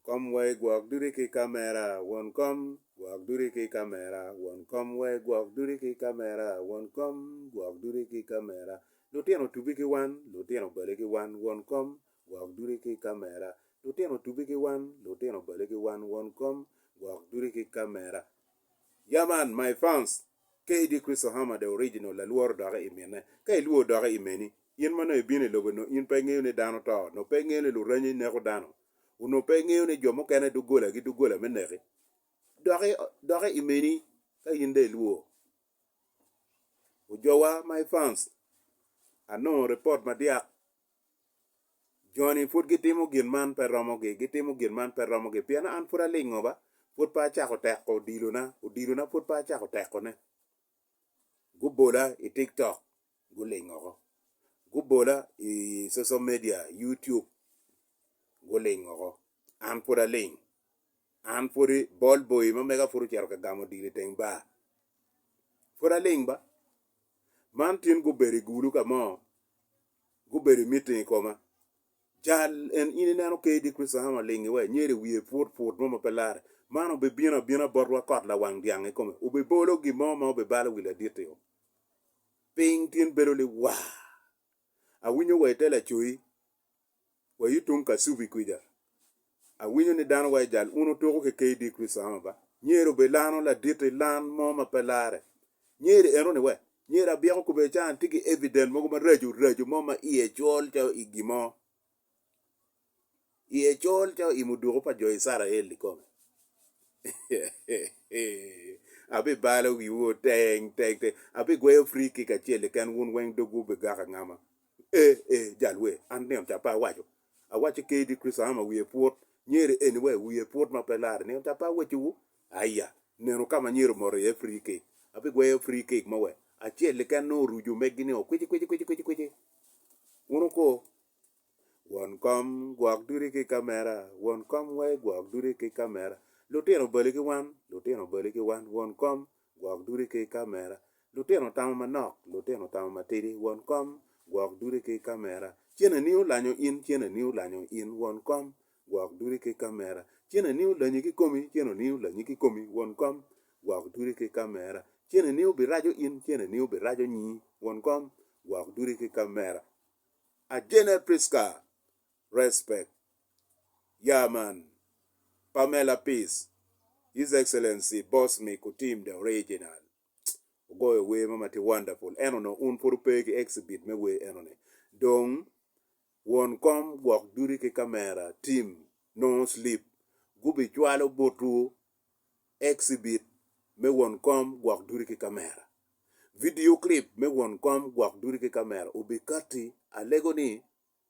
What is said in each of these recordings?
kom wa i gwok duti ki kamera won kom gwok duti ki kamera won kom wa i gwok duti ki kamera won kom gwok duti ki kamera lutino tubi ki wan lutino bale ki wan won kom gwok duti ki kamera lutino tubi ki wan lutino bale ki wan won kom gwok duti ki kamera yeah man my fans. KD. Cristo Hammer the original lalworo doke i mine. Ka ilwor doke i meni, in ma nongo ibino i lobo nongo in pe ingeyo ni dano to, nongo pe ingeyo ni luranyi neko dano, onongo pe ingeyo ni jo mukene doggola gi doggola me neki. Doke doke i meni ka in dong ilwor. Ojowa my fans, anongo report madyak Joni pud gitimo gin man pe romogi, gitimo gin man pe romogi pien an pud alingo ba, pud pe acako teko odilona, odilona pud pe acako tekone. Gubola i tiktok guling oko, gubola i social media YouTube guling oko, an pud aling, an pud bol boyi ma mega pud ocito ka gamo odilo iteng bar, pud aling ba. Man tin gubedo i gulu ka mo. gubedo i miting i koma. Jal en in ineno KD Christopher Hammer ling iwe nyer i wiye put put mo ma pe lare. Man obibino abina botwa kot lawang dyang i kome. Obibolo gin mo ma obibalo wi ladit-ti-o. Piny tin bedo liwaa. Awinyo wa i te lacoyi Wa i tung kasubi kwica. Awinyo ni dano wa i jal uno tuko ki KD Chris Oama ba? Nyer obed lano ladit i lan mo ma pe lare. Nyer eno ni we? Nyer abyeko kube can tye ki evident mogo ma racu racu mo ma iye col calo i gi mo. Iye col calo i muduku pa jo Icarael i kome. Abi balo wiwu teng teng teng. Abi gweyo free kick acel keken wun weng dogwu bi gaka ngama. Ee, ee, jal wer, an nino ca pe awaco, awaco kedi Kricito aa ma wiye put, nyeri anyway wiye put ma pe larre, nino ca pe awecowu, aya, nino ka ma anyero moto iye free cake, abigweyo free cake mo wek acel keken nongo orucu omeggi ni o kwici kwici kwici kwici kwici. Wun wuko, Won kom, gwok duti ki kamera, won kom wai gwok duti ki kamera, lutino obali ki wan, lutino obali ki wan, won kom. Gwok dude ki kamera. Lutino tamo manok, lutino tamo matidi, won kom, Gwok dude ki kamera. Cen ani olanyo in, cen ani olanyo in, won kom, Gwok dude ki kamera. Cen ani olanyi kikomi, cen ani olanyi kikomi, won kom, Gwok dude ki kamera. Cen ani obiraco in, cen ani obiraco nyi, won kom, Gwok dude ki kamera. Ajene Prisca, Respect, Yaa man, Pamela Peace, His Excellency Boss Me Kutim the Original ogoyo wer mo ma tye wonderful ento nongo un pud wupe ki exhibit me wer eno ni. Dong won kom gwok duty ki camera team nongo sleep gubi cwalo botwu exhibit me won kom gwok duty ki camera. Video clip me won kom gwok duty ki camera obi kati alego ni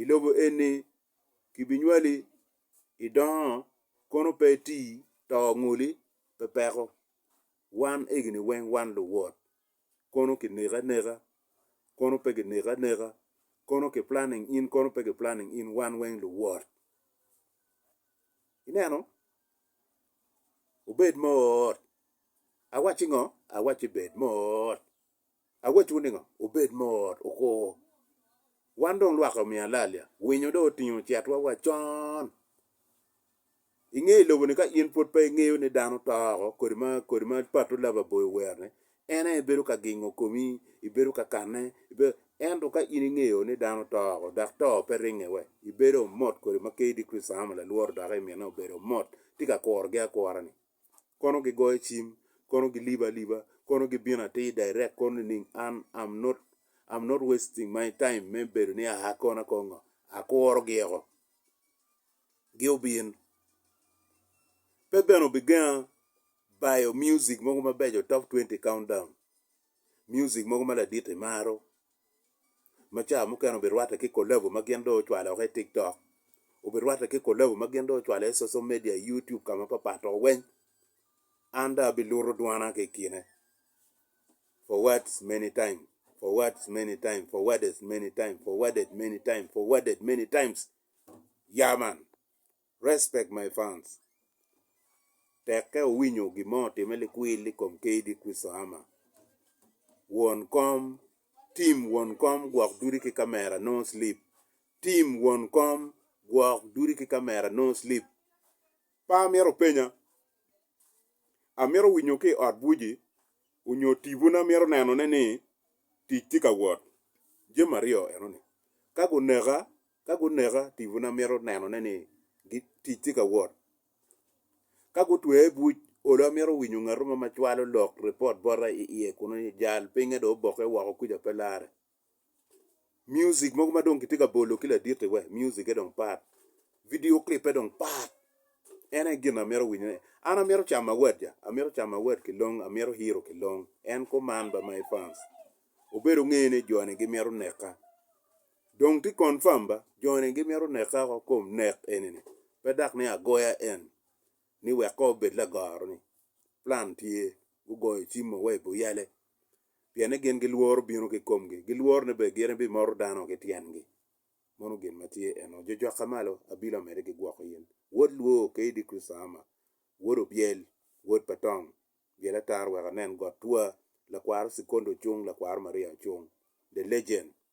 i lobo eni kibinywali idongo kono pe iti to ngoli pe peko wan egini weng wan luwot kono kineko aneka kono pe kineko aneka kono ki planning in kono pe ki planning in wan weng luwot ineno obed mot awacci ngo awacci bed mot. Awacciwu ni ngo? Wubed mot, wukur. Wan dong lwak-ki omiyo alalya, winyo dong otingo cetwa wa con. I nge i lobo-ni ka in pwod pe ingeyo ni dano to oko, kodi ma kodi ma Pato Love aboyo owero ni, en aye bedo ka gingo komi, ibedo ka kanne, ibedo, ento ka in ingeyo ni dano to oko dok to pe ringe we, ibedo mot kodi ma kdi Christama lalworo doki i mine obedo mot, tye ka kurogi akura-ni. kono gigoyo cim, kono gilibo aliba, kono gibino atir direct kono nining an I'm not I'm not wasting my time me bedo ni aa kono akor ngo, akuro gieko gi obin pe bene obigenga bayo music mogo mabeco top twenty countdown music mogo ma ladit imaro ma ca mukene obirwatte ki collabo ma gin dong ocwalo woko i TikTok, obirwatte ki collabo ma gin dong ocwalo i social media i YouTube ka mapapat dok weng an dong abiluto dwana ki i kine forwards many times, forwards many times, forwardes many times, forwarded many times, forwarded many times, yeah man. Respect my fans Tekke owinyo gin mo otime likwil i kom KD Christo Hammer won kom Team won kom gwok dudi ki kamera no sleep Team won kom gwok dudi ki kamera no sleep Pa amito penya Amito winyo ki ot buci onyo tibu na mito nenone ni tic tye ka wot Jami aryo enoni ka guneka Ka guneka, tipona mito nenone ni tic tye ka wot. Ka gutwea i buc, olo amito winyo ngatu ma cwalo lok, ripot, bota i iye kunu ni jal pinye dong obokke woko kuca pe lare. Mucik mogo ma dong kitye ka bolo ki laditi we, mucikke dong pat, vidio kilippe dong pat. En aye gin amito winyone. An amito camo awat ja, amito camo awat ki long, amito hiro ki long. En kuman ba my fans. Obedo nge ni jo-ni gimito neka. Dong ti confirm ba, joni gimito neka oko kom nek eni ni, pe dak ni agoya en ni wek kor obed lagoro ni, plan tye, gugoyo cim mo wa i buyale, pien ni gin gilworo bino ki komgi, gilworo ni be gin ibi moto dano ki tyengi, mono gin ma tye eno, jojokka malo, abilo amede ki gwoko in, wod lwoo, KD Christahama, wod Obyel, wod pa Tong, byel atar wek anen got twa, lakwaro Sikondo cung, lakwaro Maria ocung, the legend.